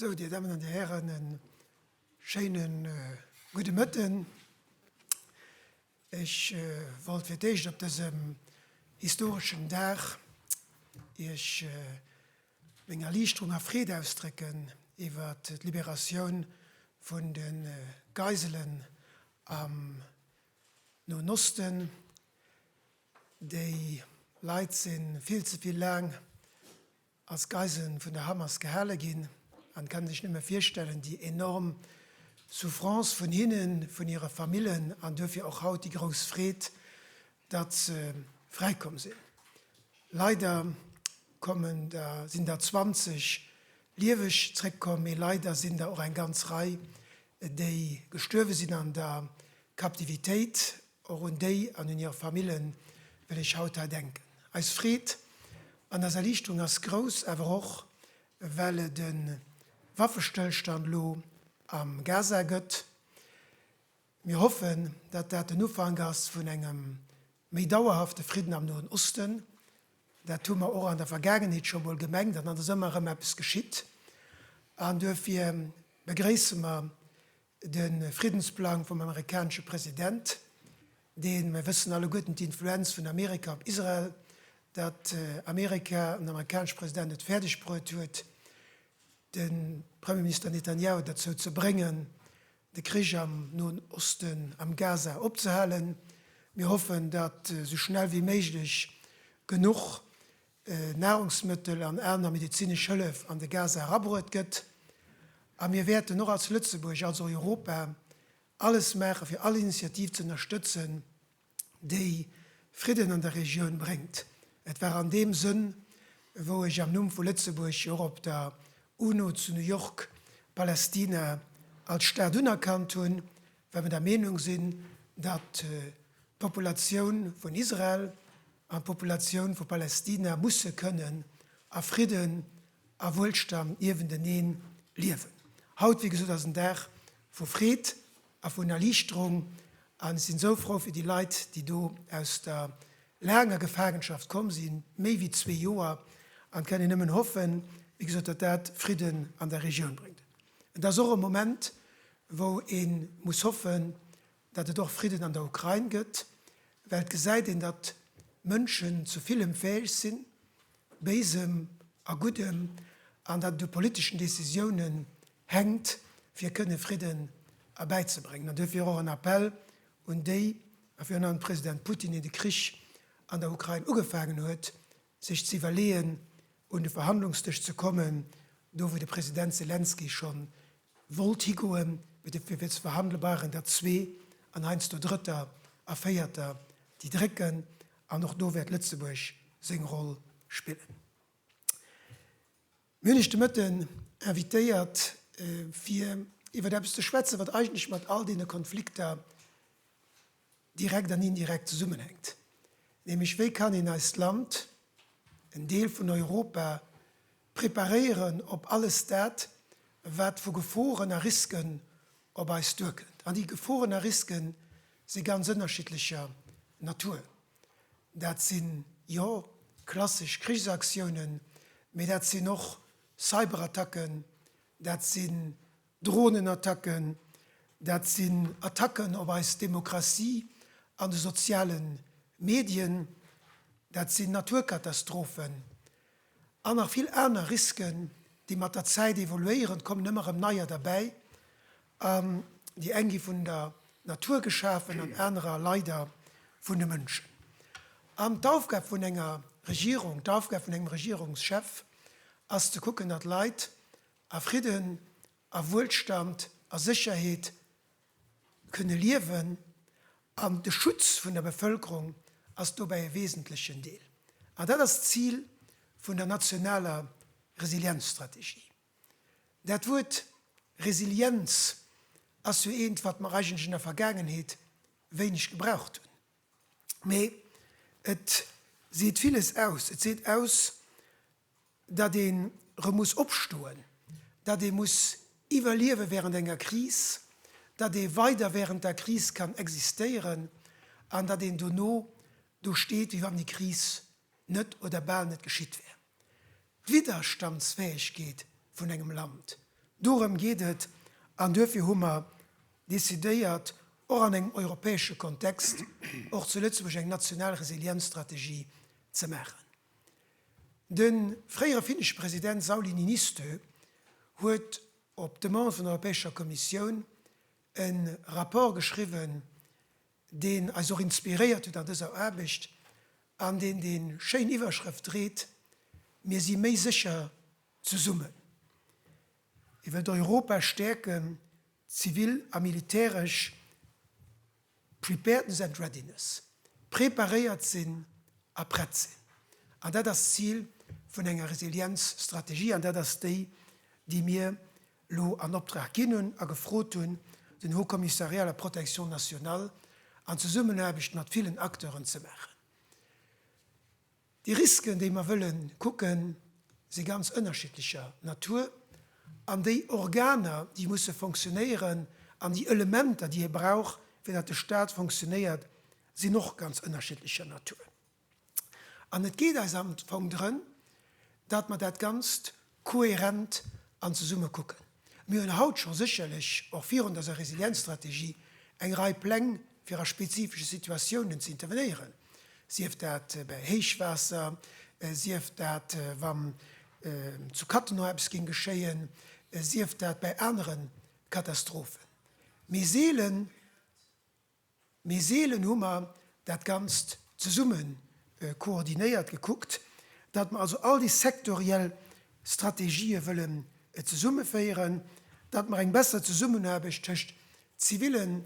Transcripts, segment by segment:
Sou, Dir Dammen an Dir Hären, e schéine gudde Mëtten. Ech wollt fir d'Éischt op dësem historeschen Dag Iech, Meng Erliichterung a Freed ausdrécken iwwer d'Liberatioun vun de Geiselen am Noen Osten. Déi Leit si vill ze vill laang als Geiselen vun der Hamas gehale ginn an kann sech nëmme virstellen déi enorm Souffrance vun hinnen, vun hire Famillen an duerfir och haut déi grouss Freed datt se fräikomm sinn. Leider kommen der, sinn der 20 lieweg zréckkomm, mee leider sinn der och eng ganz Rei, déi gestuerwe sinn an der Captivitéit. Och un déi an un hir Famillen wëll ech haut hei denken. Eis Freed an eis Erliichterung ass grouss, awer och well et e Waffestëllstand elo am Gaza gëtt. Mir hoffen, dat dat den Ufank ass vun engem méi dauerhafte Fridden am Noen Osten. Dat hu mer och an der Vergaangenheet scho mol gemengt an dann ass ëmmer erëm eppes geschitt. An duerfir begréisse mer de Friddensplang vum amerikanesche President, dee, mir wëssen alleguerten d'Influenz vun Amerika op Israel, datt Amerika an den amerikanesche President et fäerdegbruet huet, de Premierminister Netanjahu derzou ze bréngen, de Krich am Noen Osten, am Gaza, opzehalen. Mir hoffen, datt esou schnell wéi méiglech genuch Nahrungsmëttel an aner medezinesch Hëllef an de Gaza erabruet gëtt. A mir wäerten och als Lëtzebuerg, als Europa alles maachen, fir all Initiativ ze ënnerstëtzen, déi Fridden an der Regioun bréngt. Et war an deem Sënn, wou ech am Numm vu Lëtzebuerg jo och op der UNO zu New York Palästina als Staat unerkannt hunn, well mer der Meenung sinn, datt d'Populatioun vun Israel an d'Populatioun vu Palästina musse kënnen a Fridden a Wuelstand niewentenee liewen. Haut, wéi gesot, ass en Dag vu Freed. a vun Erliichterung an ech sinn esou frou fir déi Leit, déi do aus der laanger Gefaangenschaft komm sinn, méi wéi zwee Joer, an kennen nëmmen hoffen, wéi gesot, datt dat Fridden an der Regioun bréngt. Et ass och e Moment, wou ee muss hoffen, datt et och Fridden an der Ukrain gëtt, well et gesäit een, datt Mënschen zu villem fäeg sinn, Béisem a Guddem, an datt et u politeschen Decisiounen hänkt, fir kënne Fridden erbäizebréngen. An duerfir och en Appell un déi, a virun allem de President Putin, deen de Krich an der Ukrain ugefaangen huet, sech ze iwwerleeën, un de Verhandlungsdësch ze kommen, do wou de President Selenskyj schonn wollt higoen, mee de fir ze verhandele waren der zwee an heiansdo Drëtter a Véierter, déi drécken, an och do wäert Lëtzebuerg seng Roll spillen. Mir hunn Iech de Mëtten invitéiert, fir iwwert eppes ze schwätzen, wat eigentlech mat all deene Konflikter direkt an indirekt zesummenhänkt, nämlech wéi kann een eist Land, en Deel vun Europa, Preparéieren op alles dat, wat vu Geforen a Risken op eis duerkënnt. An déi Geforen a Riske si ganz ënnerschiddlecher Natur. Dat sinn, jo, klassesch Krichsaktiounen, mee dat sinn och Cyberattacken, dat sinn Dronenattacken, dat sinn Attacken op eis Demokratie an de soziale Medien, dat sinn Naturkatastrophen, An nach vill aner Risken, déi mat der Zäit evoluéieren. Et kommen ëmmer erëm neier derbäi. An déi eng gi vun der Natur geschafen an anerer leider vun de Mënschen. An d'Aufgab vun enger Regierung, d'Aufgab vun engem Regierungschef ass ze kucken, datt Leit a Fridden, a Wuelstand, a Sécherheet kënne liewen an de Schutz vun der Bevëlkerung ass dobäi e wesentlechen Deel. An dat ass d'Zil vun der nationaler Resilienzstrategie. Dat Wuert Resilienz ass jo eent, wat mer eigentlech an der Vergaangenheet wéineg gebraucht hunn, mee et seet villes aus. Et seet aus, datt ee erëm muss opstoen, datt ee muss iwwerliewe während enger Kris, datt ee weider während der Kris kann existéieren an datt een dono do steet, wéi wann déi Kris net oder bal net geschitt wär. D'Widderstandsfäegkeet vun engem Land, dorëm geet et an duerfir hu mer decidéiert, och an engem europäesche Kontext, och zu Lëtzebuerg eng national Resilienzstrategie ze maachen. De fréiere finnesche President Sauli Niinistö huet op Demande vun der Europäescher Kommissioun e Rapport geschriwwen, deen eis och inspiréiert huet an dëser Aarbecht an deen déi schéin Iwwerschrëft dréit, Mir si méi sécher zesummen. Hie wëllt Europa stäerken, zivil a militäresch. Preparedness and readiness, preparéiert sinn a prett sinn. An dat ass d'Zil vun enger Resilienzstrategie an dat ass déi, déi mir elo an Optrag ginn hunn a gefrot hunn, den Haut Commissariat à la protection nationale an Zesummenaarbecht mat villen Acteuren ze maachen. Déi Risken, déi mer wëlle kucken, si ganz ënnerschiddlecher Natur. An déi Organer, déi musse fonctionnéieren, an déi Elementer, déi ee brauch, fir datt de Stat fonctionnéiert, sinn och ganz ënnerschiddlecher Natur. An et geet eis am Fong drëm, datt mer dat Ganzt, Kohärent an zesumme kucken. Mir hunn haut scho sécherlech och virun dëser Resilienzstrategie eng Rei Pläng fir a spezifesche Situatiounen ze intervenéieren, sief dat bäi Héichwaasser, sief dat wa zu Cattenom eppes géing geschéien, sief dat bäi anere Katastrophen. Mee seelen. Mee seelen hu mer dat Ganzt zesumme koordinéiert, gekuckt, datt mer also all déi sektoriell Strategië wëllen zesummeféieren, datt mer eng besser Zesummenaarbecht tëscht zivilen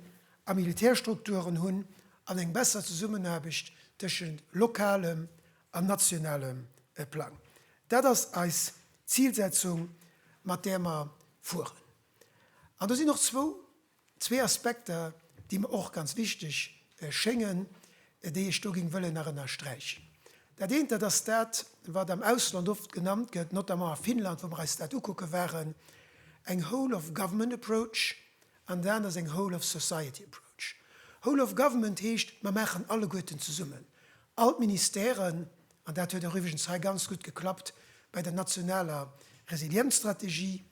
a Militärstrukturen hunn an eng besser Zesummenaarbecht tëschent lokalem an nationalem Plang. Dat ass eis Zilsetzung, mat där mer fueren. An do sinn och zwou Zwee Aspekter, déi mer och ganz wichteg schéngen, déi ech do géing wëllen nach ënnersträichen. Dat eent, dat ass dat, wat am Ausland oft genannt gëtt, notamment a Finnland, wou mer eis dat ukucke waren, eng Whole of Government Approach an dat aner ass eng Whole of Society Approach. Whole of Government heescht, mer maachen alleguerten zesummen, all d'Ministèren, an dat huet och iwwregens hei ganz gutt geklappt bei der nationaler Resilienzstrategie,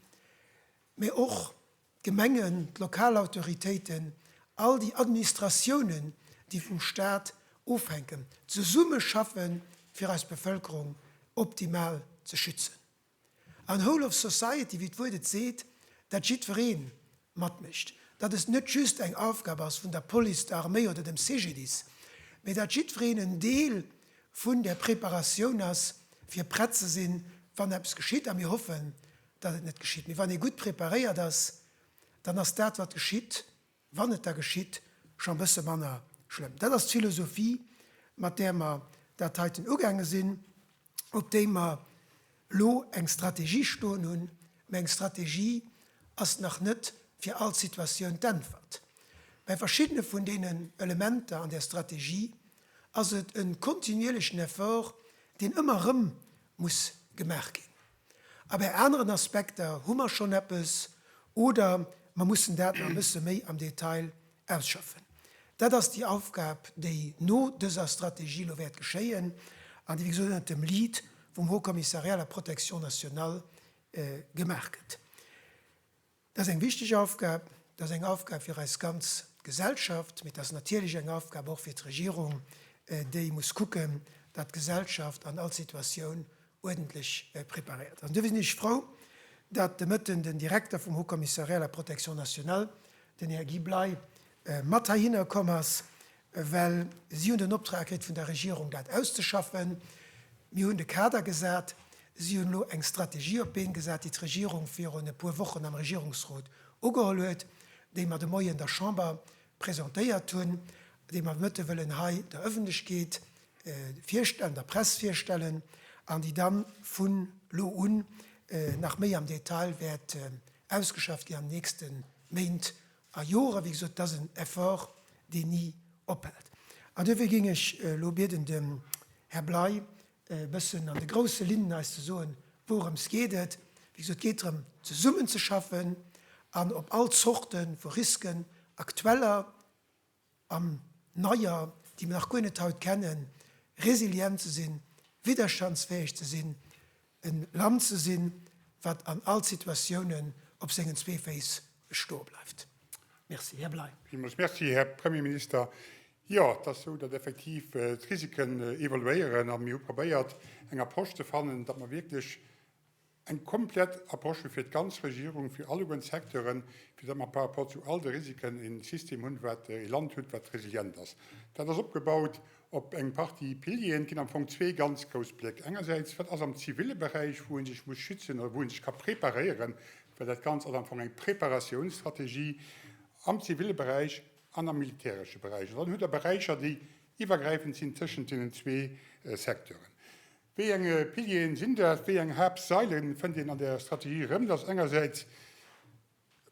mä och d'Gemengen, d'lokal Autoritéiten, all déi Administratiounen, déi vum Stat ofhänken, zesummeschaffen, fir eis Bevëlkerung optimal ze schützen. An whole of society, wéi d'Wuert et seet, dat jiddweree matmécht, dat et net just eng Aufgab ass vun der Police, der Arméi oder dem CGDIS, mä dat jiddwereen en Deel vun där Preparatioun ass, fir prett ze sinn, wann eppes geschitt. A mir hoffen, datt et net geschitt. Mee wann ee gutt preparéiert ass, dann ass dat, wat geschitt, wann et da geschitt, scho e bësse manner schlëmm. Dat ass d'Philosophie, mat där mer dat heiten ugaange sinn, op déi mer elo eng Strategie stoen hunn. Mä eng Strategie ass nach net fir all Situatioun d'Äntwert. Bei verschiddene vun deenen Elementer an där Strategie ass et e kontinuierlechen Effort, deen ëmmer erëm muss gemaach ginn. A bei aneren Aspekter hu mer schonn eppes oder mer mussen dat nach e bësse méi am Detail ausschaffen. Dat ass déi Aufgab, déi no dëser Strategie elo wäert geschéien an déi wéi gesot ënnert dem Lead vum Haut Commissariat à la protection nationale gemaach gëtt. Dat ass eng wichteg Aufgab. Dat ass eng Aufgab fir eis ganz Gesellschaft. Mee dat ass natierlech eng Aufgab och fir d'Regierung, déi muss kucken, datt d'Gesellschaft an all Situatioun uerdentlech preparéiert ass. An duerfir sinn ech frou, datt de Mëtten den Direkter vum Haut Commissariat à la protection nationale, den Här Guy Bley, mat heihinner komm ass, Well si hunn den Optrag kritt vun der Regierung, dat auszeschaffen. Mir hunn de Kader gesat. Si hunn elo eng Strategie op d'Been gesat, déi d'Regierung virun e puer Wochen am Regierungsrot ugeholl huet, déi mer de Moien der Chamber presentéiert hunn, déi mer d'Mëtte wëllen hei der Ëffentlechkeet virstellen, der Press virstellen an déi da vu lo un nach méi am Detail wäert ausgeschafft ginn an den nächste Méint A Jore, wéi gesot, dat ass en Effort, deen ni ophält. An duerfir géing ech elo bieden, dem Här Bley e bëssen an de grousse Linnen eis ze soen, wourëms geet et. Wéi gesot, et geet drëm, zesummenzeschaffen an op all Zorte vu Risken, aktueller, an neier, déi mer nach guer net haut kennen, resilient ze sinn, widderstandsfäeg ze sinn, e Land ze sinn, wat an all Situatiounen op sengen zwee Féiss stoe bleift. Merci, Här Bley. Villmools Merci, Här Premierminister. Jo, et ass esou, datt effektiv d'Risiken evoluéieren a mir hu probéiert, eng Approche ze fannen, datt mer wierklech Eng komplett Approche fir d'ganz Regierung, fir alleguerten Secteuren, fir datt mer par rapport zu all de Risiken e System hunn, wat, e Land hutt, wat resilient ass. Dat ass opgebaut op eng Partie Pilieren. Et ginn am Fong zwee ganz grouss Bléck. Engersäits, wat ass am ziville Beräich, wou ee sech muss schützen oder wou ee sech ka preparéieren, well dat Ganzt ass am Fong eng Preparatiounsstrategie am ziville Beräich an am militäresche Beräich. An dann hutt Der Beräicher, déi iwwergräifend sinn tëschent deenen zwee Secteuren. Wéi eng Pilieren sinn dat? Wéi eng Haaptsailen fënnt een an der Strategie erëm? Dat ass engersäits,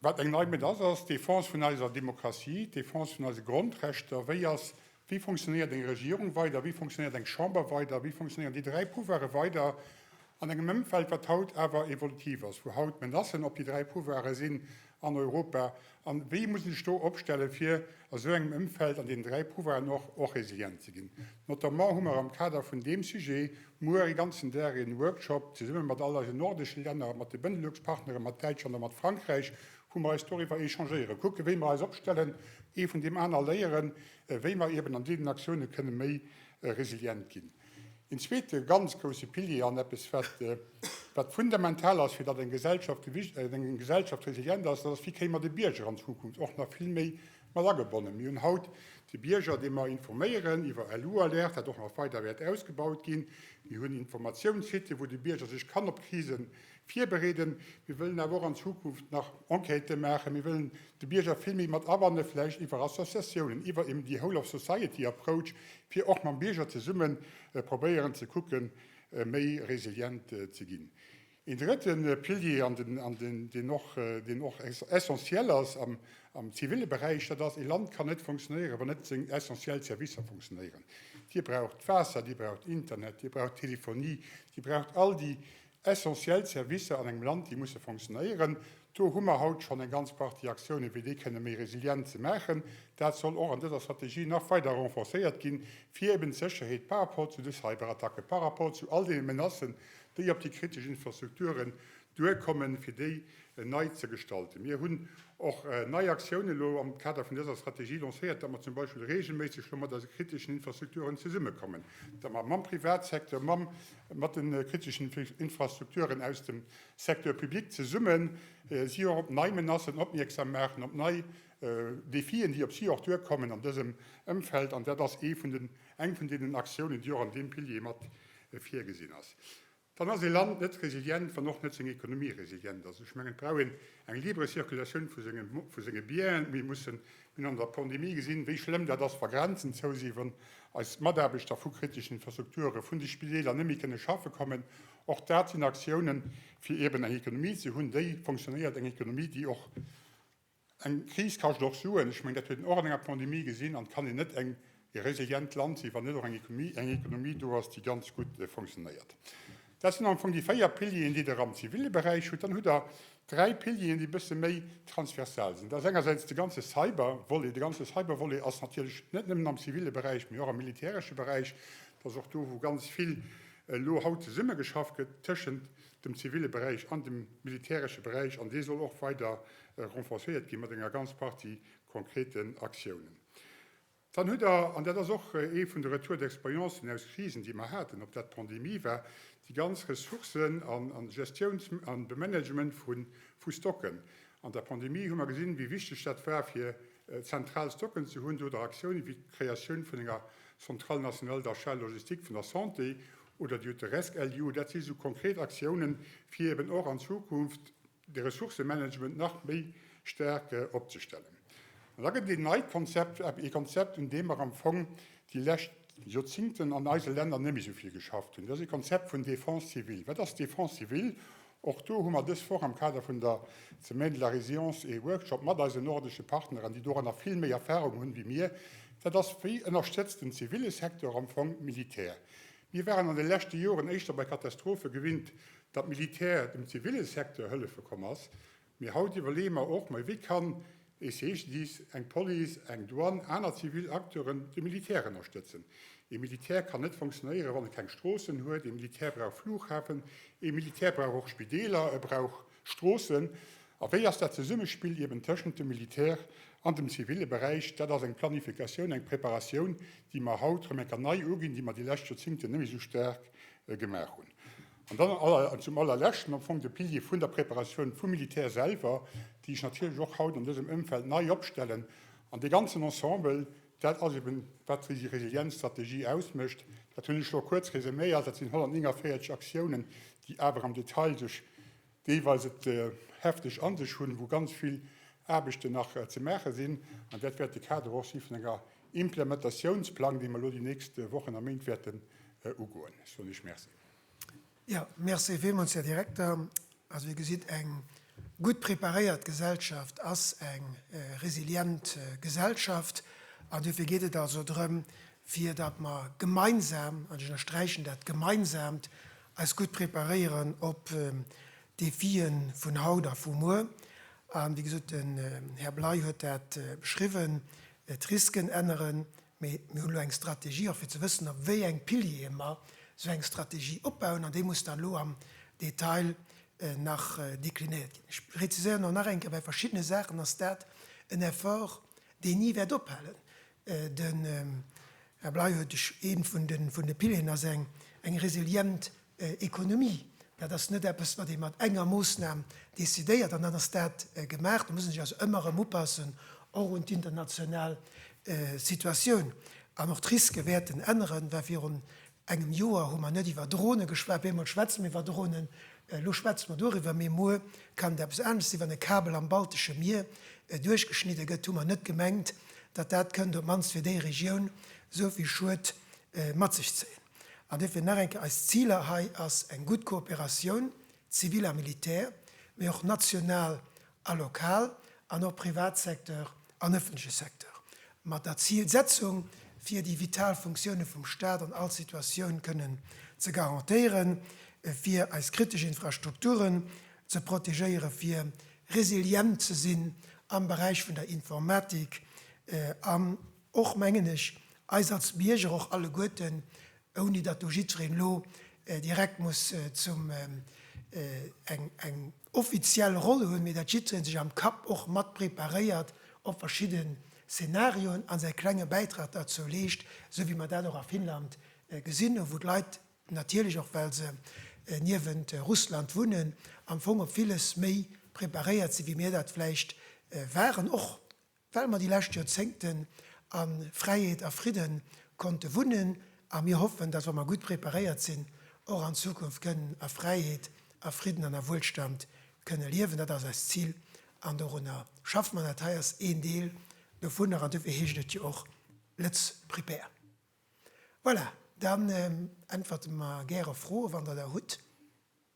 wat eng nei Mëtt ass, ass d'Defense vun eiser Demokratie, d'Defense vun eise Grondrechter. Wéi ass, wéi funktionéiert eng Regierung weider? Wéi funktionéiert eng Chamber weider? Wéi funktionéieren déi dräi Pouvoire weider an engem Ëmfeld, wat haut awer evolutiv ass, wou haut Menacen op déi dräi Pouvoire sinn, an Europa a wéi muss een sech do opstelle fir a sou engem Ëmfeld an deenen dräi Pouvoiren och och resilient ze ginn. Notamment hu mer am Kader vun deem Sujet muer e ganzen Dag een Workshop zesumme mat all eisen nordesche Länner, mat de Benelux Partneren, mat Däitschland a mat Frankräich, wou mer eis doriwwer échangéieren, kucke wéi mer eis opstellen, ee vun deem aner léieren, wéi mer eben an deenen Aktiounen kënne méi resilient ginn. Een zweete ganz grousse Pilier an eppes, wat fundamental ass, fir datt eng Gesellschaft gewicht, eng Gesellschaft resilient ass, dat ass, wéi kréie mer de Bierger an Zukunft och nach vill méi mat agebonnen. Mir hunn haut de Bierger, dee mer informéieren iwwer LU-Alerte, wat och nach weider wäert ausgebaut ginn. Mir hunn Informatiouns-Sitë wou de Bierger sech kann op Krisen virbereeden. Mir wëllen awer och an Zukunft nach Enquêten maachen. Mir wëllen de Bierger vill méi mat abannen, vläicht iwwer Associatiounen, iwwer eben déi Whole of Society Approach, fir och mam Bierger zesumme probéieren ze kucken, méi resilient ze ginn. Een drëtte Pilier, an deen och, deen och essentiel ass am zivile Beräich, dat ass, ee Land kann net funktionéieren, wann net seng essentiell Servicer funktionéieren. Dir braucht d'Waasser, Dir braucht Internet, Dir braucht d'Telefonie, Dir braucht all déi Essentiell Servicer an engem Land, déi musse fonctionnéieren. Do hu mer haut schonn eng ganz Partie Aktiounen, fir déi kënne méi resilient ze maachen. Dat soll och an dëser Strategie nach weider renforcéiert ginn, fir eben d'Sécherheet par rapport zu de Cyberattacken, par rapport zu all deene Menacen, déi op déi kritesch Infrastrukturen duerkommen, fir déi nei ze gestalten. Mir hunn och nei Aktiounen elo am Kader vun dëser Strategie lancéiert, datt mer zum Beispill reegelméisseg elo mat eise kriteschen Infrastrukturen zesummekommen, datt mer mam Privatsecteur, mam. Mat de kriteschen Infrastrukturen aus dem Secteur public zesumme si och op nei Menacen opmierksam maachen, op nei Defien, déi op si och duerkommen an dësem Ëmfeld. An dat ass eng vun deenen Aktiounen, déi och an deem Pilier mat virgesinn ass. Dann ass e Land net resilient, wann och net seng Ekonomie resilient ass. Ech mengen, et brauch een eng libre Circulation vu senge Bienen. Mir mussen Mir hunn an der Pandemie gesinn, wéi schlëmm dat ass, wa Grenzen zou sinn, wann eis Mataarbechter vu kriteschen Infrastrukture vun de Spideeler net méi kënne schaffe kommen. Och dat sinn Aktiounen, fir eeben eng Ekonomie ze hunn, déi fonctionnéiert, eng Ekonomie, déi och, eng Kris kascht och Suen, ech mengen, dat huet een och an enger Pandemie gesinn, an et kann een net eng ee resilient Land sinn, wann net och eng Ekonomie do ass, déi ganz gutt funktionéiert. Dat sinn am Fong déi véier Pilieren, déi Der am zivile Beräich hutt. Dann hutt Der dräi Pilieren, déi e bësse méi transversal sinn. Dat ass engersäits de ganze Cyber-Volet. De ganze Cyber-Volet ass natierlech net nëmmen am zivile Beräich, mee och am militäresche Beräich. Dat ass och do, wou ganz vill elo haut zesummegeschafft gëtt tëschent dem zivile Beräich an dem militäresche Beräich. An dee soll och weider renforcéiert gi mat enger ganz Partie konkreten Aktiounen. Dann hutt Der, an dat ass och ee vun de Retours d'expérience aus Krisen, déi mer haten, ob dat d'Pandemie war, déi ganz Ressourcen a Gestiouns a Bemanagement vu Stocken. An der Pandemie hu mer gesinn, wéi wichteg dat war, fir zentral Stocken ze hunn, oder Aktiounen, wéi d'Kreatioun vun enger Centrale nationale d'achat logistique vun der Santé oder déi hutt de RESC-LU. Dat si sou konkret Aktiounen, fir eeben och an Zukunft, de Ressourcëmanagement nach méi staark opzestellen. An da gëtt et een neit Konzept, ee Konzept, un deem mer am Fong déi lescht Joerzingten an eise Länner net méi esou vill geschafft hunn, dat ass ee Konzept vun Défense civile. Wat ass Défense civile? Och do hu mer dës Woch am Kader vun der Semaine de la résilience ee Workshop mat eisen nordesche Partneren, déi doranner vill méi Erfahrung hunn wéi mir. Dat ass, Wéi ënnerstëtzt den zivile Secteur am Fong d'Militär? Mir waren an de leschte Joren éischter bei Katastrophe gewinnt, datt d'Militär dem ziville Secteur hëllefe komm ass, mee haut iwwerleeë mer och, Mais wéi kann ee CGDIS, eng Police, eng Douane, aner zivil Acteuren de Militär ënnerstëtzen? Ee Militär kann net fonctionnéieren, wann e keng Stroossen huet. Ee Militär brauch Flughafen, ee Militär brauch och Spideeler, e brauch. Stroossen? A wéi ass dat Zesummespill eben tëschent dem Militär an dem zivile Beräich? Dat ass eng Planifikatioun, eng Preparatioun, déi mer haut rëm eng Kéier nei uginn, déi mer déi lescht Joerzingten net méi esou staark gemaach hunn. An dann zum Allerleschten am Fong de Pilier vun der Preparatioun vum Militär selwer, déi ech natierlech och haut an dësem Ëmfeld nei opstellen. An dee ganzen Ensemble, Dat ass eben, wat déi Resilienzstrategie ausmécht. Dat hunn ech elo kuerz resuméiert. Dat sinn 149 Aktiounen, déi awer am Detail sech deelweis et hefteg a sech hunn, wou ganz vill Aarbechten nach ze maache sinn. An dat wäert de Kader och si vun enger Implementatiounsplang, dee mer elo déi nächst Wochen a Méint wäerten ugoen. Ech soen Iech Merci. Jo, merci villmools, Här Direkter. Also, Dir gesitt, eng gutt preparéiert Gesellschaft ass eng resilient Gesellschaft. An duerfir geet et also drëm, fir datt mer gemeinsam, an ech ënnersträichen dat Gemeinsaamt, eis gutt preparéieren op d'Defie vun haut a vu muer. A wéi gesot, den Här Bley huet dat beschriwwen, d'Risken änneren. Mee mir hunn elo eng Strategie, och fir ze wëssen, op wéi eng Piliere mer esou eng Strategie opbauen, an déi muss dann elo am Detail nach deklinéiert ginn. Ech präziséieren och nach eng Kéier, Bei verschiddene Saachen ass dat en Effort, deen ni wäert ophalen. Den Här Bley huet ee vun de Pilieren, ass eng resilient Ekonomie, dat ass net eppes, wat ee mat enger Moosnam decidéiert an dann ass dat gemaach. Do muss een sech also ëmmer erëm upassen, och un d'international Situatioun. An och d'Riske wäerten änneren, well virun engem Joer hu mer net iwwer Drone geschwat, bemol schwätze mer iwwer Dronen, elo schwätze mer doriwwer, mee muer kann et eppes anescht sinn. Wann e Kabel am Baltesche Mier duerchgeschnidde gëtt, hu mer net gemengt, datt dat kënnt op d'mannst fir déi Regioun esou vill Schued mat sech zéien. An duerfir nach eng Kéier, Eis Ziler hei ass eng gutt Kooperatioun, zivil a militär, mee och national a lokal, an och Privatsecteur an ëffentleche Secteur, mat der Zilsetzung, fir déi vital Funktioune vum Stat an all Situatioun kënnen ze garantéieren, fir eis kritesch Infrastrukturen ze protegéieren, fir resilient ze sinn am Beräich vun der Informatik an, Och mengen ech, eis als Bierger, och alleguerten, ouni datt do jiddwereen elo direkt muss zum eng eng offiziell Roll hunn, mee datt jiddwereen sech am Kapp och mat preparéiert op verschidde Szenarioen a säi klenge Bäitrag derzou leescht, esou wéi mer dat och a Finnland gesinn hu wou d'Leit natierlech, och well se niewent Russland wunnen, am Fong op villes méi preparéiert sinn, wéi mir dat vläicht waren, och Well mer déi lescht Joerzéngten a Fräiheet a Fridde konnte wunnen a mir hoffen, dass, wa mer gutt preparéiert sinn, och an Zukunft kënnen a Fräiheet, a Fridden an a Wuelstand kënne liewen. Dat ass eist Zil an dorunner schaffe mer. Dat hei ass een Deel dovunner an duerfir heescht et jo och Lët'z Prepare. Voilà, dann äntwerte mer gäre Froe wann Der der hutt.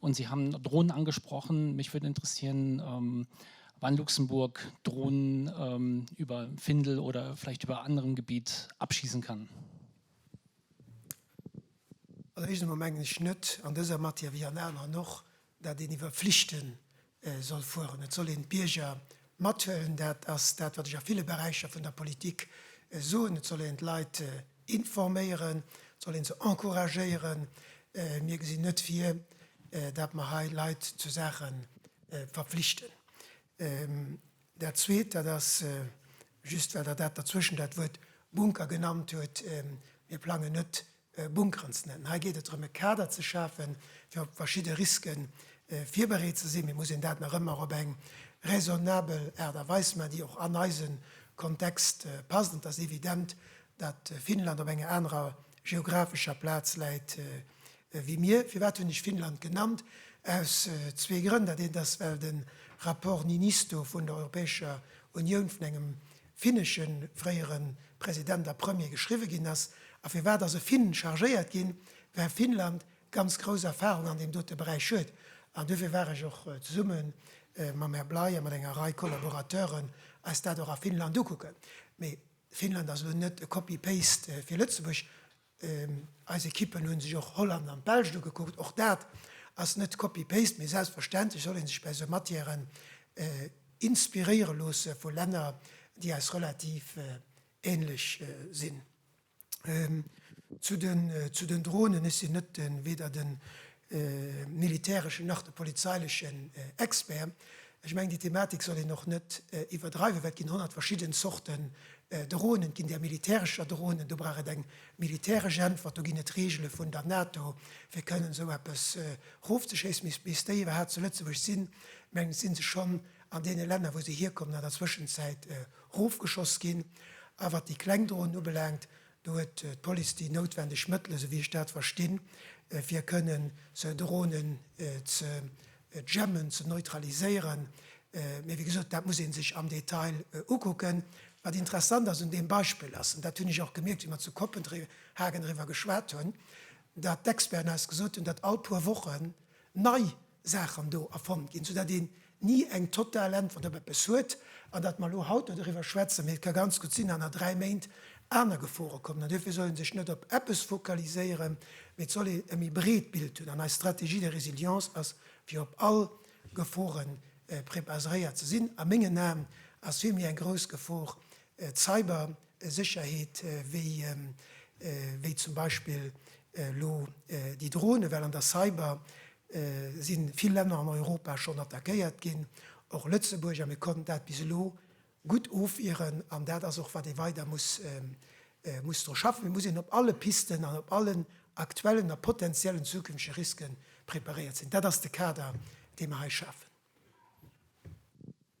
Und Sie haben Drohnen angesprochen. Mich würde interessieren, ähm, ob an Luxemburg Drohnen ähm, über Findel oder vielleicht über anderem Gebiet abschießen kann. Also éischtens emol mengen ech net an dëser Matière, wéi an aneren och, dat een iwwer Pflichten soll fueren. Et soll een d'Bierger mathuelen. Dat ass dat, wat ech a ville Beräicher vun der Politik soen. Et soll een d'Leit informéieren. Et soll een se encouragéieren. Mir gesinn net vir, dat mer hei Leit zu Saache verpflichten. Dat Zweet, dat ass, just well Der dat derzwëschen dat Wuert Bunker genannt hutt, Mir plangen net Bunkeren ze nennen. Hei geet et drëm, e Kader ze schafen, fir op verschidde Riske virbereet ze sinn. Mee muss een dat nach ëmmer op eng raisonnabel Aart a Weis maachen, déi och an eise Kontext passt. Et ass evident, datt Finnland op enger anerer geographescher Plaz läit wéi mir. Firwat hunn ech Finnland genannt? Aus zwee Grënn. Dat eent ass, well de Rapport Niinistö vun der Europäescher Unioun vun engem finnege fréiere President a Premier geschriwwe ginn ass a firwat ass e Finn chargéiert ginn, well Finnland ganz grouss Erfarung an deem dote Beräich huet. An duerfir war ech och zesumme mam Här Bley a mat enger Rei Collaborateuren eis dat och a Finnland ukucken. Mee Finnland ass elo net e Copy-paste fir Lëtzebuerg, Eis Ekippen hunn sech och Holland an d'Belsch ugekuckt. Och dat ass net copy-paste, mee selbstverständlech soll een sech bei esou Matièren inspiréiere loosse vu Länner, déi eis relativ ähnlech sinn. Zu den Dronen, ech sinn net weder den de militäreschen nach de polizeilechen Expert. Ech mengen, déi Thematik soll een och net iwwerdreiwen, well et ginn honnert verschidden Zorten Dronen. Et ginn där militärescher Dronen, do brauch et eng militäresch Äntwert. Do ginn et Reegele vun der NATO, fir kënnen esou eppes erofzeschéissen. Mee bis déi iwwerhaapt zu Lëtzebuerg sinn, mengen ech, si se schonn an deene Länner, wou se hierkommen, an der Zwëschenzäit erofgeschoss ginn. A wat déi kleng Dronen ubelaangt, Do huet d'Police déi noutwendeg Mëttele, sou wéi ech dat verstinn, fir kënnen sou Dronen ze jammen, ze neutraliséieren. Mee wéi gesot, dat muss ee sech am Detail ukucken. Wat interessant ass un deem Beispill ass, an dat hunn ech och gemierkt, wéi mer zu Kopenhagen eriwwer geschwat hunn, datt d'Experten eis gesot hunn, datt all puer Wochen nei Saachen do erfonnt ginn, soudatt een ni eng total Äntwert op eppes huet. An datt mer elo haut do doriwwer schwätzen, mee et ka ganz gutt sinn, datt an dräi Méint aner Gefore kommen. An duerfir soll ee sech net op eppes focaliséieren, mee et soll ee e méi breet Bild hunn. An eis Stratégie de résilience ass, fir op all Gefore prepaseréiert ze sinn. A mengen Aen ass vill méi eng grouss Gefor d'Cybersécherheet wéi zum Beispill elo déi Dronen, well an der Cyber si vill Länner an Europa schonn attackéiert ginn, och Lëtzebuerg, a mir konnten dat bis elo gutt ofwieren. An dat ass och, wat ee weider muss muss dru schaffen. Et muss een op alle Pisten an op allen aktuellen a potenziellen zukünftege Risken preparéiert sinn. Dat ass de Kader, dee mer hei schafen.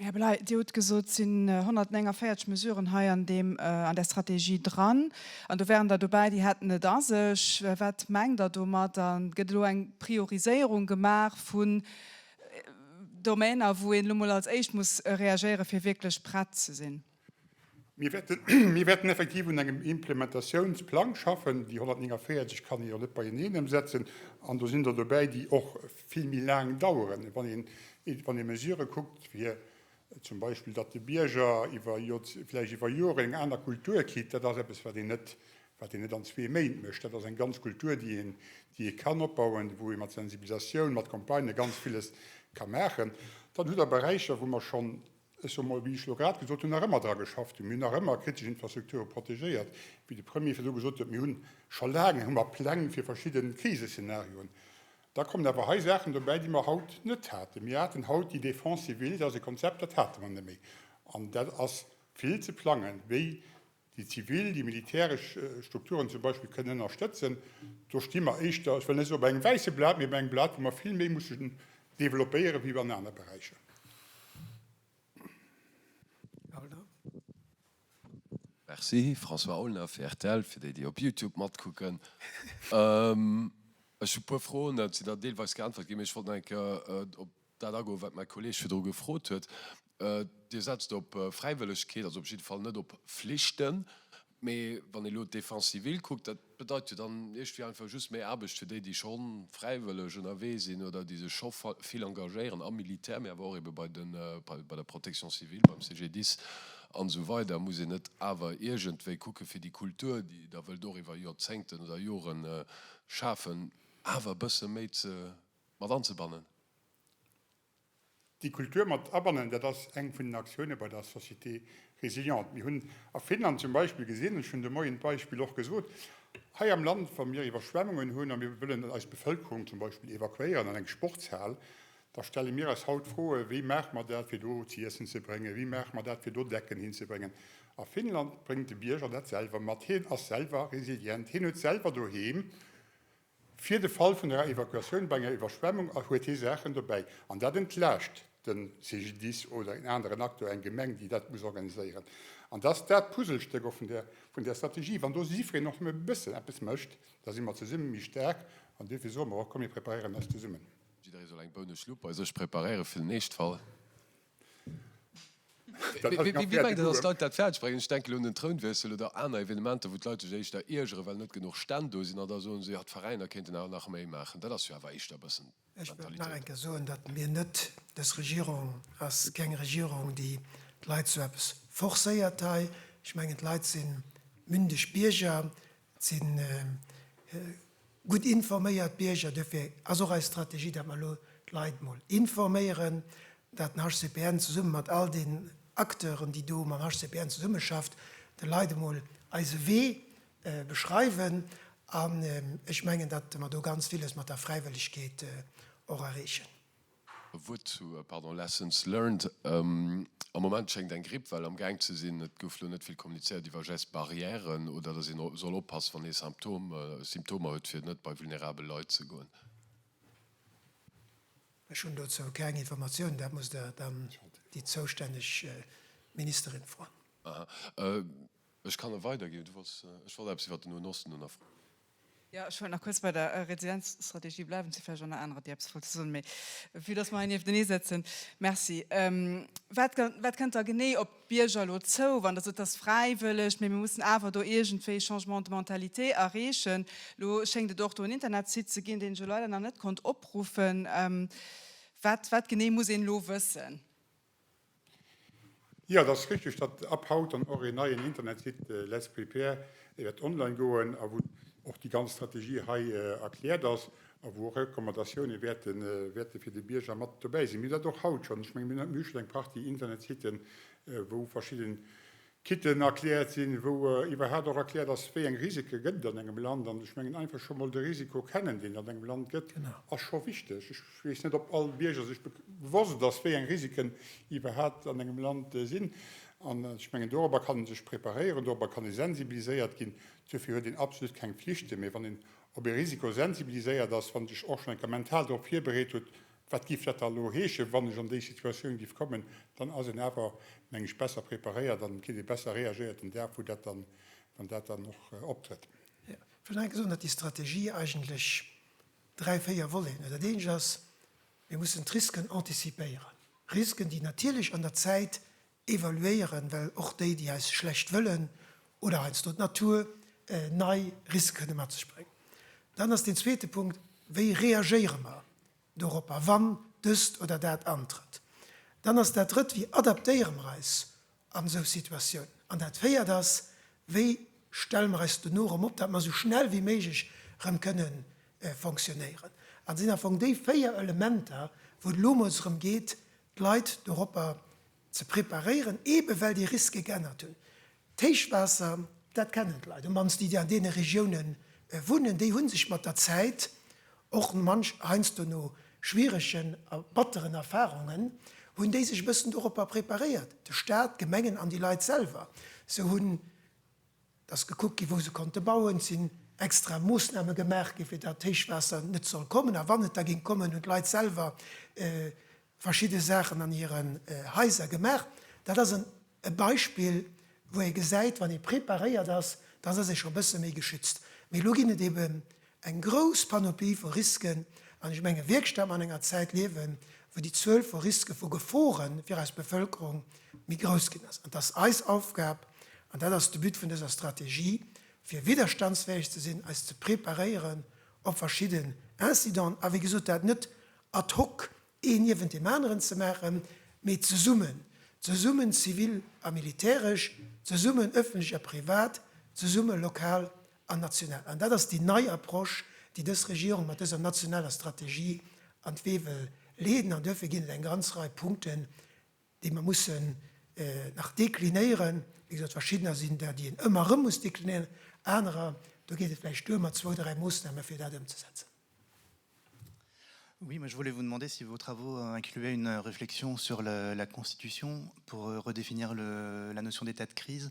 Här Bellay, Dir hutt gesot, et sinn 149 Mesuren hei an där Strategie dran. An do waren der dobäi, déi hätten et a sech. Wat mengt Der domat? A gëtt elo eng Prioriséierung gemaach vun Domainer, wou een elo mol als éischt muss reagéieren, fir wierklech prett ze sinn? Mir wäerten effektiv un engem Implementatiounsplang schaffen. Déi 149 kann een jo net beieneen ëmsetzen. An do sinn der dobäi, déi och vill méi laang daueren. Wann een, wann ee Mesurë kuckt, wéi zum Beispill, datt de Bierger iwwer vläicht iwwer Joren eng aner Kultur kritt, dat ass eppes, wat een net, wat een net an zwee Méint mécht. Dat ass eng ganz Kultur, déi een, déi ee kann opbauen, wou ee mat Sensibilisatioun, mat Campagnë ganz villes ka maachen. Dann hutt Der Beräicher, wou mer schonn Ech soe mol, wéi ech elo grad gesot hunn, nach ëmmer dra geschafft hunn. Mir hunn nach ëmmer kritesch Infrastrukture protegéiert, wéi de Premier virdu gesot huet. Mir hu scho laang hu mer Pläng fir verschidde Kriseszenarioen. Da kommen awer hei Saachen dobäi, déi mer haut net haten. Mir haten haut déi Défense civile, dat ass e Konzept, dat hate mer net méi. An dat ass vill ze plangen, wéi déi zivil, déi militäresch Strukturen zum Beispill kënnen ënnerstëtzen, do sti mer éischter, ech wëll net soen op engem wäisse Blat, mee op engem Blat, wou mer vill méi mussen developpéieren, wéi an aner Beräicher. Merci. François Aulner fir rtl, fir déi, déi op Youtube matkucken. Ech hu e puer Froen, se sinn der deelweis geäntwert ginn, mee ech wollt nach eng Kéier op. dat agoen, wat mäi Kolleeg virdru gefrot huet. Dir setzt op Fräiwëllegkeet, also op jidde Fall net op Flichten. Mee wann ee elo d'Défense civile kuckt, dat bedeit jo dann iergendwéi einfach just méi Aarbecht fir déi, déi scho fräiwëlleg ënnerwee sinn oder déi sech scho vill engagéieren am Militär, mee awer och eebe bei den, bei der Protection civile, beim CGDIS an esou weider. Muss een net awer iergendwéi kucke fir déi Kultur, déi Der wëllt och iwwer Jorzéngten oder Joren schafen, awer e bësse méi ze mat anzebannen. Déi Kultur mat abannen, dat ass eng vun den Aktiounen bei der Société résiliente. Mir hunn a Finnland zum Beispill gesinn, ech hunn de Moien d'Beispill och gesot, hei am Land, wa mir Iwwerschwemmungen hunn a mir wëllen eis Bevëlkerung zum Beispill evakuéieren an eng Sportshal, da stelle mir eis haut d'Froe, wéi maache mer dat, fir do z'iessen ze bréngen, wéi maache mer dat, fir do Decken hinzebréngen. A Finnland bréngt de Bierger dat selwer mat. Hien ass selwer resilient, hien huet selwer doheem Fir de Fall vun enger Evakuatioun bei enger Iwwerschwemmung huet hie Saachen dobäi an dat entlaascht de CGDIS oder een aneren Acteur, eng Gemeng, déi dat muss organiséieren. An dat ass dat Puzzlestéck och vun där Strategie. Wann do jiddwereen och nëmme e bëssen eppes mécht, da si mer zesumme méi staark an duerfir soe mer och, Komm mir preparéieren eis zesummen. Jidderee soll eng Bounusschlupp bei sech preparéieren fir den Eeschtfall. Wéi mengt Dir, datt d'Leit dat fäerdeg bréngen? Ech denke lo un den Trounwiessel oder aner Evenementer, wou d'Leit sech éischter iergeren, well net genuch Stänn do sinn, an da soen se, jo, d'Veräiner kéinten awer nach méi maachen. Dat ass jo awer éischter e bëssen d'Mentalitéit. Ech wëll nach eng Kéier soen, datt mir net, dës Regierung ass keng Regierung, déi d'Leit zu eppes forcéiert hei. Ech mengen, d'Leit si mündeg Bierger, Et si gutt informéiert Bierger. Duerfir ass och eis Strategie, datt mer elo d'Leit emol informéieren, datt den HCPN zesumme mat all den Acteuren, déi do mam HCPN zesummeschafft, de Leit emol eise Wee beschreiwen. An ech mengen, datt mer do ganz villes mat der Fräiwëllegkeet och erreechen. E Wuert zu Lessons learned, Am Moment schéngt eng Grippwell am Gaang ze sinn. Et gouf lo net vill kommunizéiert iwwer Gestes barrières oder dass ee soll oppassen, wann ee Symptomer huet, fir net bei vulnerabel Leit ze goen. Ech hunn dozou keng Informatiounen. Dat musst Der dann déi zoustänneg Ministerin froen. Ech kann e weiderginn. Ech wollt eppes iwwer den Noen Osten nofroen. Jo, ech wollt nach kuerz bei der Residenzstrategie bleiwen. Et si vläicht och nach anerer, déi eppes wollte soen, mee vue dass mer hei nieftenee sëtzen, Merci. Wat, wat kënnt da genee op d'Bierger elo zou, wann Der sot, et ass fräiwëlleg, mee mir mussen awer do iergendwéi Changement de mentalité erreechen? Elo schéngt et och do en Internetsite ze ginn, deen ech elo leider nach net konnt opruffen. Wat, wat genee muss een elo wëssen? Jo, et ass richteg, datt ab haut dann och een neien Internetsite Let's Prepare wäert online goen a wou och déi ganz Strategie hei erkläert ass a wou och Recommandatioune wäerte wäerte fir de Bierger mat dobäi sinn. Mir hunn dat och haut schonn. Ech menge mir hunn eng Partie Internetsiten, wou verschidde Kitten erkläert sinn, wou iwwerhaapt och erkläert ass, wéi eng Risike gëtt et an engem Land. An ech mengen, einfach scho mol de Risiko kennen, deen et an engem Land gëtt, ass scho wichteg. Ech weess net, ob all Bierger sech bewosst ass, wéi eng Risiken iwwerhaapt an engem Land sinn. An ech mengen, dorobber kann ee sech preparéieren, dorobber kann ee sensibiliséiert ginn. Duerfir huet een absolut keng Pflichten, mee wann een op ee Risiko sensibiliséiert ass, wann een sech och schonn eng Kéier mental dorop virbereet huet, Wat géif dat da elo heeschen, wann ech an déi Situatioun géif kommen? Dann ass een awer, meng ech, besser preparéiert an et kritt ee besser reagéiert den Dag, wou dat dann, wann dat dann och optrëtt. Ech wëll nach eng Kéier soen, datt déi Strategie eigentlech dräi, véier Voleten huet. Dat Eent ass, mir mussen d'Risken anticipéieren, Risken, déi natierlech an der Zäit Evaluéieren, well och déi, déi eis schlecht wëllen oder heiansdo d'Natur, nei Risque kënne mat sech bréngen. Dann ass deen zweete Punkt, Wéi reagéiere mer doropper, wann dëst oder dat antrëtt? Dann ass dat Drëtt, Wéi adaptéiere mer eis an esou Situatiounen? An dat Véiert ass, Wéi stelle mer eis dono erëm op, dat mer esou schnell wéi méiglech erëm kënne fonctionnéieren? Dat sinn am Fong déi véier Elementer, wou et elo emol drëm geet, d'Leit doropper ze preparéieren, eebe well déi Risque geännert hunn. D'Héichwaasser, dat kennen d'Leit, am mannst déi, déi an deene Regioune wunnen, déi hu sech mat der Zäit och manch heiansdo no schwieregen a batteren Erfarungen, hunn déi sech e bëssen doropper preparéiert, de Staat, d'Gemengen an déi Leit selwer. Se hunn Et ass gekuckt ginn, wou se konnte bauen. Et sinn extra Moossname gemaach ginn, fir datt d'Héichwaasser net soll kommen. A wann et da géing kommen, hunn d'Leit selwer verschidde Saachen an hiren Haiser gemaach. Dat ass e Beispill, wou ee gesäit, wann ee preparéiert ass, dann ass ee scho e bësse méi geschützt. Mee elo ginn et eeben Eng grouss Panoplie vu Risken, an ech menge wierklech, datt mer an enger Zäit liewen, wou déi Zuel vu Riske, vu Gefore fir eis Bevëlkerung méi grouss ginn ass. An et ass eis Aufgab, an dat ass de But vun dëser Strategie, fir widderstandsfäeg ze sinn, eis ze preparéieren op verschidde Incidenten, a wéi gesot, dat net ad hoc een niewent deem aneren ze maachen, mee zesummen, zesummen zivil a militäresch, zesummen ëffentlech a privat, zesumme lokal an national. An dat ass déi nei Approche, déi dës Regierung mat dëser nationaler Strategie an d'Wee wëll leeden. An duerfir ginn et eng ganz Rei Punkten, déi mer mussen nach deklinéieren. Wéi gesot, verschiddener sinn der, déi een ëmmer erëm muss deklinéieren, anerer, do geet et vläicht duer mat zwou, dräi Moossname fir dat ëmzesetzen. Oui, moi je voulais vous demander si vos travaux incluaient une réflexion sur la Constitution pour redéfinir la notion d'état de crise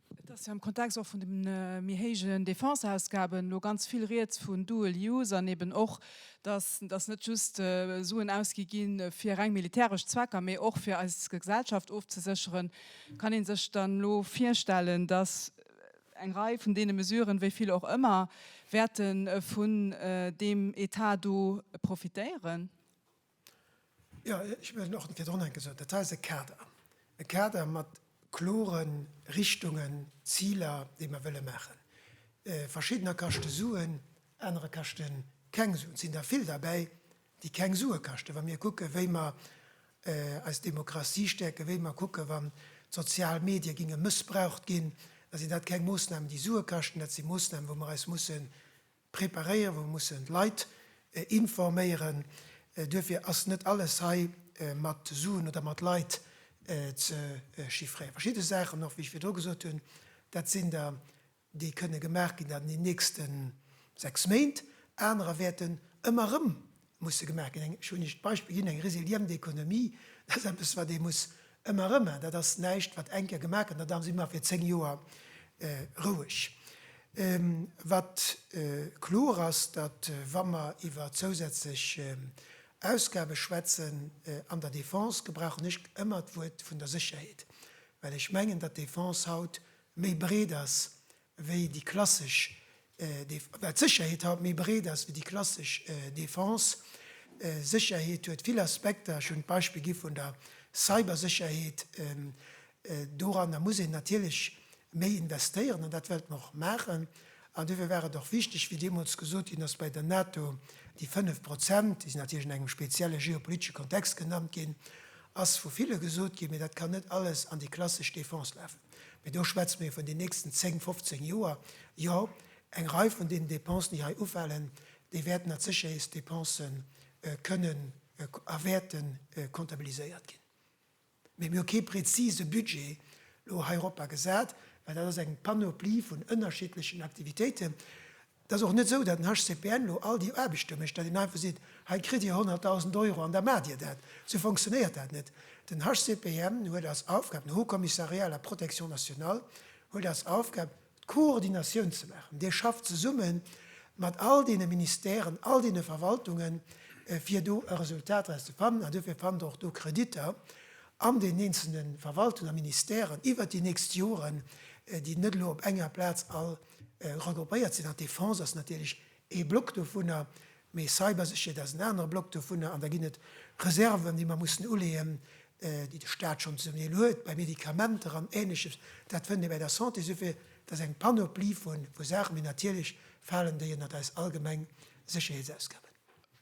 Et ass jo am Kontext och vun de méi héijen Defense-Ausgaben elo ganz vill Rieds vun dual use an eben och, dass dass net just Suen ausgi gi fir reng militäresch Zwecker, mee och fir eis Gesellschaft ofzesécheren. Kann ee sech dann elo virstellen, dass eng Rei vun deene Mesuren, wéi vill och ëmmer, wäerte vun deem Etat do profitéieren? Jo, ech hunn och virdrun eng gesot. Dat hei ass e Kader. E Kader mat klore Richtungen, Ziler, déi mer wëlle maachen. Verschiddener kaschte Suen, anerer kaschte keng Suen. Et sinn der vill derbäi, déi keng Sue kaschten, wa mir kucke wéi mer eis Demokratie stäerken, wéi mer kucke wann d'sozial Medie ginge mëssbraucht ginn, da sinn dat keng Moossnamen, déi Sue kaschten. Dat si Moossnamen, wou mer eis musse Preparéieren, wou mussen d'Leit informéieren. Duerfir ass net alles hei mat Suen oder mat Leit ze chiffréieren. Verschidde Saachen och, wéi ech virdru gesot hunn, dat sinn der, déi kënne gemaach ginn an den nächste sechs Méint. Anerer wäerten ëmmer erëm Musse gemaach ginn. Ech hunn Iech d'Beispill ginn, eng resiliente Economie, dat ass eppes, wat ee muss ëmmer erëm maachen. Dat ass näischt, wat eng Kéier gemaach gëtt an da si mer fir zéng Joer roueg. Wat kloer ass, datt, wa mer iwwer zousätzlech Ausgabe schwätzen an der Defense, gebrauchen ech ëmmer d'Wuert vun der Sécherheet, well ech mengen, datt d'Defense haut méi breet ass wéi déi klassesch Def, wat d'Sécherheet haut méi breet ass wéi déi klassesch Defense. Sécherheet huet vill Aspekter. Ech hunn d'Beispill gi vun der Cybersécherheet. Doranner muss een natierlech méi investéieren an dat wéilt mer och maachen. An duerfir war et och wichteg, wéi deemools gesot ginn ass bei der NATO, déi 5 Prozent, déi sinn natierlech an engem spezielle geopolitesche Kontext genannt ginn, ass vu ville gesot ginn, mee dat kann net alles an déi klassesch Defense lafen. Mee do schwätze mir vun den nächsten zéng, fofzéng Joer. Jo, eng Rei vun deenen Dépensen, déi hei ufalen, déi wäerten als Sécherheetsdépense kënnen a wäerte comptabiliséiert ginn. Mee mir hu kee prezise Budget elo hei eropper gesat, well dat ass eng Panoplie vun ënnerschiddlechen Aktivitéiten, Et ass och net esou, datt den HCPN elo all déi Aarbechte mécht, datt een einfach seet, hei kritt Dir 100.000 Euro an da maacht Dir dat. Esou fonctionnéiert dat net. Den HCPN huet als Aufgab, den Haut Commissariat à la protection nationale huet als Aufgab, d'Koordinatioun ze maachen. Dee schafft zesumme mat all deene Ministèren, all deene Verwaltungen, fir do e Resultat draus ze fannen. An duerfir fannt Der och do Kreditter an deenen eenzele Verwaltungen a Ministèren iwwert déi nächst Joren, déi net elo op enger Plaz all Regroupéiert sinn an d'Defense ass natierlech ee Block dovunner, mee Cybersécherheet ass en anere Block dovunner. An da ginn et Reserven, déi mer mussen uleeën, déi de Staat schonn zum Deel huet bei Medikamenter an Ähnleches. Dat fënnt ee bei der Santé. Esouguer et ass eng Panoplie vu Saachen, mee natierlech falen déi ënnert eis allgemeng Sécherheetsausgaben.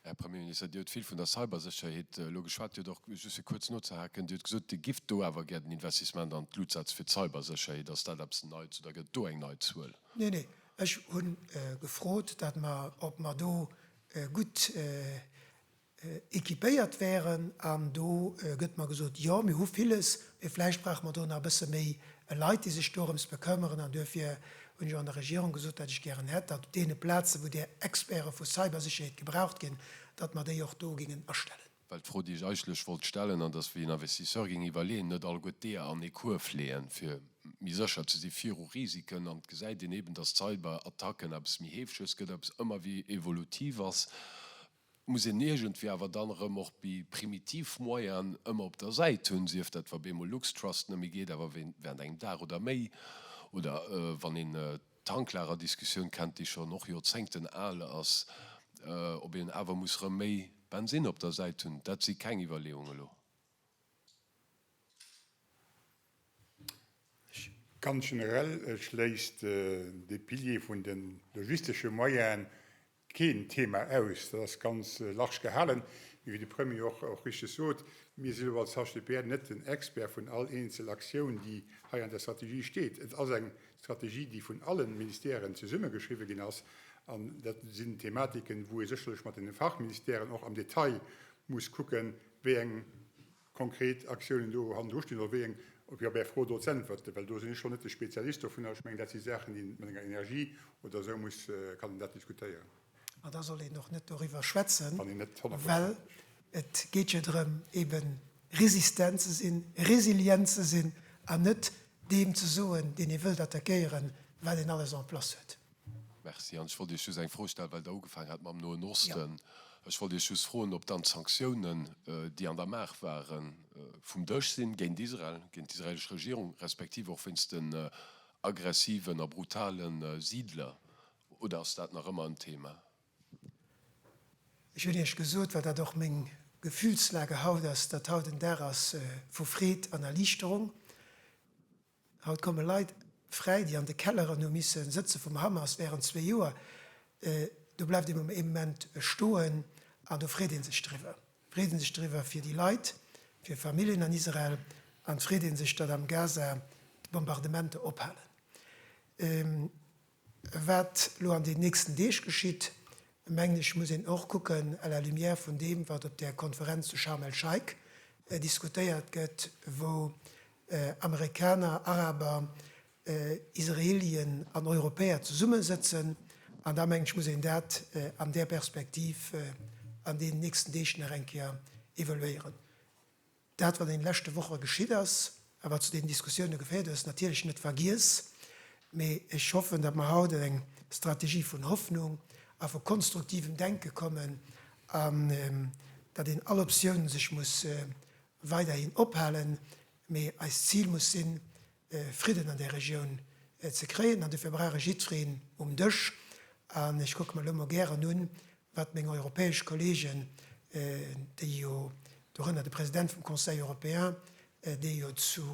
Här Premier Minister, Dir hutt vill vun der Cybersécherheet elo geschwat. Dir huet och, just fir kuerz nozehaken, Dir hutt gesot, Dir gift do awer gär den Investissement an d'Luutz-Sätz fir d'Cybersécherheet. Ass dat eppes Neits oder gëtt et do eng nei Zuel? Nee, nee, ech hu gefrot, datt mer, ob mer do gutt équipéiert wären. An do gëtt mer gesot, Jo, mir hu villes, mee vläicht brauche mer do nach e bësse méi e Leit, déi sech dorëms bekëmmeren. An duerfir hunn ech och an der Regierung gesot, datt ech gären hätt, datt op deene Plazen, wou där Experte vu Cybersécherheet gebraucht ginn, datt mer déi och do gingen astellen. Well d'Fro, déi ech eigentlech wollt stellen, an dass, wéi en Investisseur géing iwwerleeën, net alleguer d'Eeër an ee Kuerf leeën, fir méi sécher ze si viru Risiken. An et gesäit een eeben, datt Cyberattacken eppes méi heefeges gëtt, eppes ëmmer wéi evolutiv ass. muss een iergendwéi awer dann erëm och bi primitiv Moyenen ëmmer op der Säit hunn, sief dat wa beemol Luxtrust net méi geet, awer während engem Dag oder méi, oder wann een d'Tanklagerdiskussioun kennt, déi schonn och Joerzéngten al ass, ob een awer muss erëm méi Bensinn op der Säit hunn. Dat si keng Iwwerleeungen elo. Ganz generell schléisst dee Pilier vun de logistesche Moyenen keen Thema aus. Dat ass ganz large gehalen. Mee wéi de Premier och richteg sot, mir sinn elo als HCPR net den Expert vun all eenzel Aktioun, déi hei an der Strategie steet. Et ass eng Strategie, déi vun alle Ministèren zesummegeschriwwen ginn ass. An dat sinn Thematiken, wou ee sécherlech mat de Fachministèren och am Detail muss kucken, wéi eng konkret Aktiounen do hannendru stinn oder wéi eng, op jo bäi Fro do z'äntwerten, well do sinn ech schonn net de Spezialist dovunner. Ech mengen, dat si Saachen, déi een mat enger Energie oder esou muss, kann een dat diskutéieren. An da soll een och net doriwwer schwätzen, well et geet jo drëm, eben resistent ze sinn, resilient ze sinn an net deem ze soen, deen ee wëllt attackéieren, wat een alles en place huet. Merci. An ech wollt Iech just eng Fro stellen, well Der ugefaangen hat mam Noen Osten. Ech wollt Iech just froen, ob dann d'Sanktiounen, déi an der Maach waren, vum Dësch sinn géint Israel, géint d'israelesch Regierung, respektiv och wéinst den aggressiven a brutale Siidler, oder ass dat nach ëmmer en Thema? Ech hunn Iech gesot, well dat och meng Gefühlslage haut ass, datt haut en Dag ass vu Freed an Erliichterung. Haut komme Leit fräi, déi an de Kelleren hu misse sëtze vum Hamas wärend zwee Joer. Do bleift ee mam Ament stoen an do freet ee sech driwwer. Freet ee sech driwwer fir déi Leit, fir Familljen an Israel an et freet ee sech, datt am Gaza d'Bombardementer ophalen. Wat elo an den nächsten Deeg geschitt, mengen ech, muss een och kucken à la lumière vun deem, wat op där Konferenz zu Scharm el-Scheik diskutéiert gëtt, wou Amerikaner, Araber, Israelien an Europäer zesummesëtzen. An da, mengen ech, muss een dat an där Perspektiv an deenen nächsten Deeg nach eng Kéier evaluéieren. Dat wat an den leschte Woche geschitt ass a wat zu deenen Diskussioune geféiert huet, ass natierlech net vergiess, mee ech hoffen, datt mer haut an eng Strategie vun Hoffnung a vu konstruktivem Denke kommen an datt een all Optioun sech muss weiderhin ophalen, mee eist Zil muss sinn, Fridden an där Regioun ze kréien an dofir brauch ee jiddwereen um Dësch. An ech kucke mer elo mol gären un, wat meng europäesch Kolleegen, déi jo, dorënner de President vum Conseil européen, dee jo zu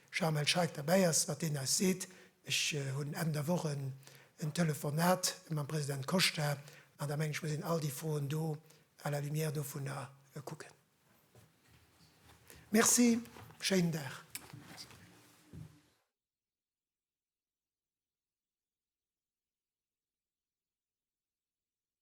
Sharm el-Sheikh derbäi ass, wat deen eis seet. Ech hunn Enn der Woch en Telefonat mam President Costa, an da mengen ech, muss een all déi Froen do à la lumière dovunner kucken. Merci, schéinen Dag.